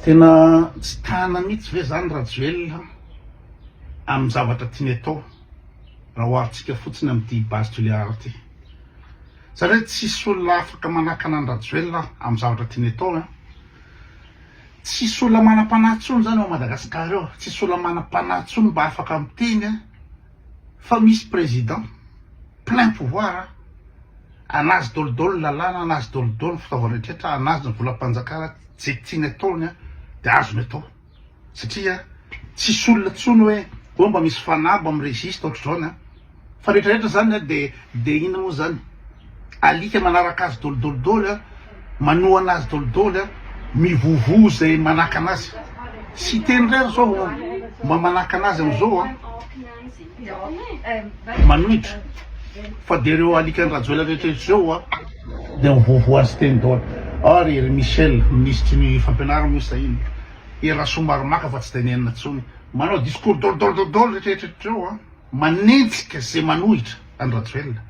Tena tsy tana mihitsy ve zany Rajoelina amin'ny zavatra tiany atao raha oharintsika fotsiny amin'ity base Toliara ity? Satria tsisy olona afaka manakana an'i Rajoelina amin'ny zavatra tiany atao an! Tsisy olona manam-panahy intsony zany ao Madagascar ao, tsisy olona manam-panahy intsony mba afaka miteny an! Fa misy président plein pouvoir a! Anazy dol dol ny lalàna, anazy dol dol ny fitaovana rehetra, anazy ny volam-panjakana, ze tiany ataony a de azony atao satria tsisy olona tsony hoe oh mba misy fanahy mba mi-resiste ohatr'izao ny an! Fa rehetra rehetra zany a de de ina moa zany? Alika manaraka azy dolidoly doly, manohana azy doly doly, mivovo izay manakana azy. Tsy hiteny indray ry zao mba manakana azy amin'izao an! Manohitra fa dia ireo alikan-dRajoelina rehetra eto izao an! Dia mivovo azy teny doly. Ary ry Michel, minisitry ny fampianarana moa sa inona? Ery Rasoamaromaka fa tsy dia nenina intsony. Manao discours doly doly doly doly rehetra rehetra eto izao an! Manenjika izay manohitra. an'i Rajoelina.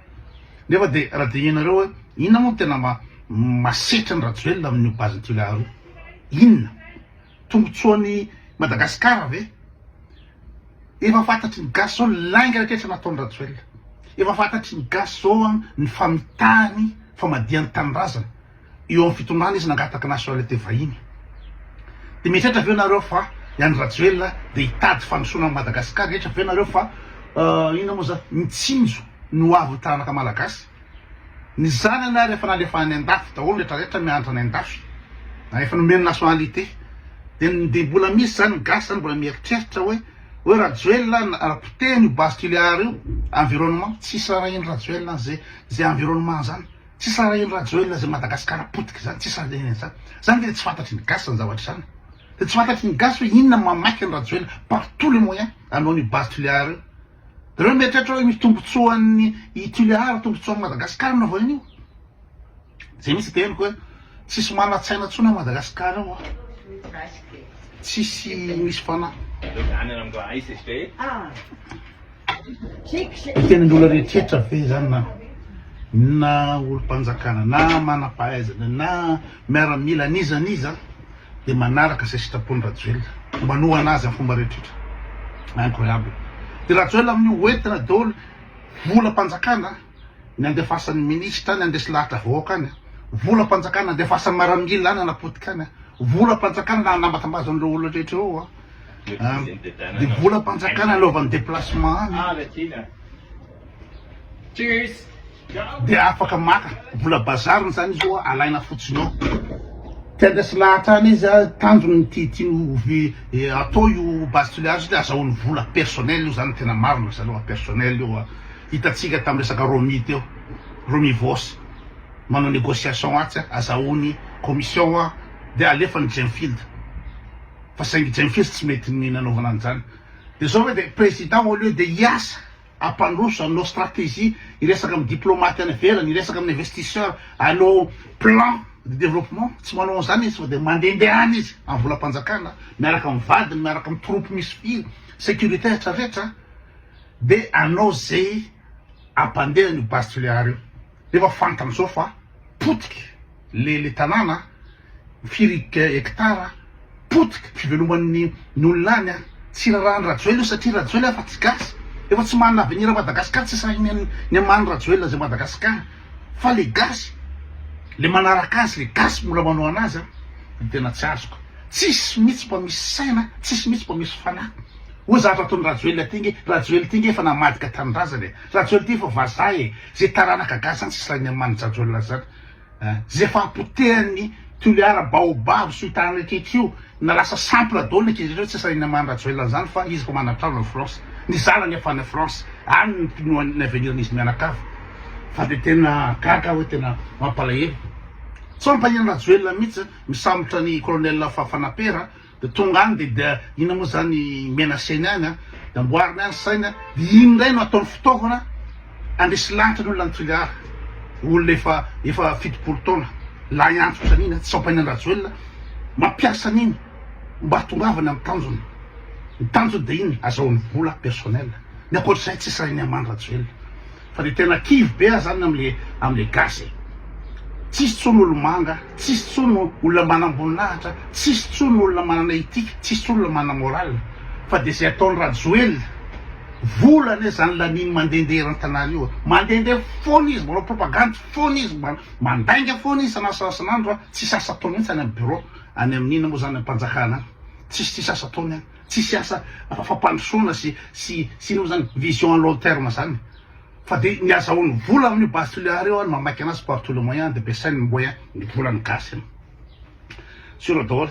Nefa dia raha dinihinareo hoe inona moa no tena masetra an'i Rajoelina amin'io base Toliara io? Inona? Tombontsoan'i Madagasikara ve? Efa fantatry ny gasy zao lainga rehetra nataon'i Rajoelina. Efa fantatry ny gasy zao ny famitahany famadihan-tanindrazana. Eo amin'ny fitondrana izy nangataka nationalité vahiny. Dia mieritreritra ve nareo fa i Andry Rajoelina dia hitady fandrosoana an'i Madagascar? Mieritreritra ve nareo fa inona moa zany? Mitsinjo ny ho avin'ny taranaka Malagasy? Ny zanany ary efa nalefa any andafy daholo rehetra rehetra mianatra any andafy, ary efa nomeny nationalité. Dia dia mbola misy zany ny gasy zany mbola mieritreritra hoe hoe Rajoelina raha potehiny io basculiar io environnement, tsisy raha arahin'i Rajoelina an'izay izay environnement zany. Tsy sarahin'i Rajoelina izay Madagasikara potika izany, tsy sarahiny an'izany. Izany dia tsy fantatry ny gasy izany zavatra izany. Dia tsy fantatry ny gasy hoe inona no mamaky an'i Rajoelina par tous les moyens hanao an'io base Tuléar io. Dia ireo mieritreritra hoe misy tombontsoan'ny i Tuléar, tombontsoan'i Madagasikara no avy ao an'io. Izay mihitsy dia henoko hoe tsisy manan-tsaina intsony ao Madagasikara ao. Tsisy misy fanahy. Tenin'olona rehetra ve izany na na olom-panjakana na manam-pahaizana na miaramila n'iza n'iza dia manaraka izay sitrapon'i Rajoelina, manohana azy amin'ny fomba rehetra. Incroyable. Dia Rajoelina amin'io ho entina daholo volam-panjakana. nandefasan'ny minisitra any handresy lahatra vahoaka any, volam-panjakana nandefasan'ny maramila any hanapotika any, volam-panjakana nanambatambazany ireo olona rehetra ireo, dia volam-panjakana anaovany déplacement any, dia afaka maka vola bazariny izany izy io, alaina fotsiny ao, te handresy lahatra any izy, tanjony ti tiany hatao io base tulear io dia azahoany vola personnel io, izany no tena marina, azahoany personnel io. Hitantsika tamin'ny resaka Romi teo, Romi Vos, manao négociation atsy, azahoany commission an, dia alefany Djemfield, fa saingy Djemfield tsy mety ny nanaovana an'izany. Dia izao ve dia Président au lieu dia hiasa hampandroso, hanao stratégie, hiresaka amin'ny diplomate any ivelany, hiresaka amin'ny investisseur, hanao plan de développement, tsy manao an'izany izy fa dia mandendehana izy amin'ny volam-panjakana, miaraka amin'ny vadiny, miaraka amin'ny troupes misy firy, sécurité rehetra rehetra. de anao zay ampandeha an'io base tulear io nefa fantany zao fa potika le le tanàna firy hectare potika fiveloman'ny ny olona any a tsy raràn'i rajoelina io satria rajoelina efa tsy gasy efa tsy manana avenir madagascar tsy sahiny ny ny aman'i rajoelina zay madagascar fa le gasy le manaraka azy le gasy mbola manao anazy a ny tena tsy azoko tsisy mitsy mba misy saina tsisy mitsy mba misy fanahy Oa zany raha ataony Rajoelina ty nge, Rajoely ty nge efa namadika tanindrazana e, Rajoely ty efa vazaha e, ze taranaka gasy zany tsisy lain'ny aman Jajoelina zany a, ze efa apotehan'ny Toliara baobab sy Oitany rehetra rehetra io na lasa sample daoly ny ankizy rehetra io tsisy lain'ny aman Rajoelina zany fa izy efa manatrano any France, ny zanany efa any France any ny pinoany ny avenir n'izy mianakavy fa de tena gaga aho hoe tena mampalahelo, tsy mampahiany Rajoelina mihitsy zany, misambotra an'i colonel Fanampera. Dia tonga any dia dia inona moa zany menaceny any an, dia amboariny any saina, dia iny indray no ataony fitaovana handresy lanitra ny olona any Toliara, olona efa efa fitopolo taona, lahy antitra otrany iny an, tsy sampaina an-dRajoelina, mampiasa an'iny mba hahatongavany amin'ny tanjony, ny tanjony dia iny azahoany vola personnel, ny ankoatr'izay tsy sahiny hamaly Rajoelina. Fa de tena kivy be ah zany amle amle gasy e! Tsisy tsony olo manga, tsisy tsony olona manamboninahitra, tsisy tsony olona manana ethique, tsisy tsony olona manana moral fa de ze ataony rajoelina vola anie zany laniny mandende eran tanàna io a! Mandende fona izy manao propagande fona izy ma mandainga fona izy sanasanasanandro a! Tsisy asa ataony mintsy any am bureau any aminina mo zany am panjakana any tsisy tsisy asa ataony any. Tsisy asa fampandrosoana sy sy sy ino moa zany vision à long terme zany fa de ny azahoany vola amin'io base tulear io ary mamaika anazy par tout le moyen de ampiasainy ny moyen ny volan'ny gasy any sur daholo.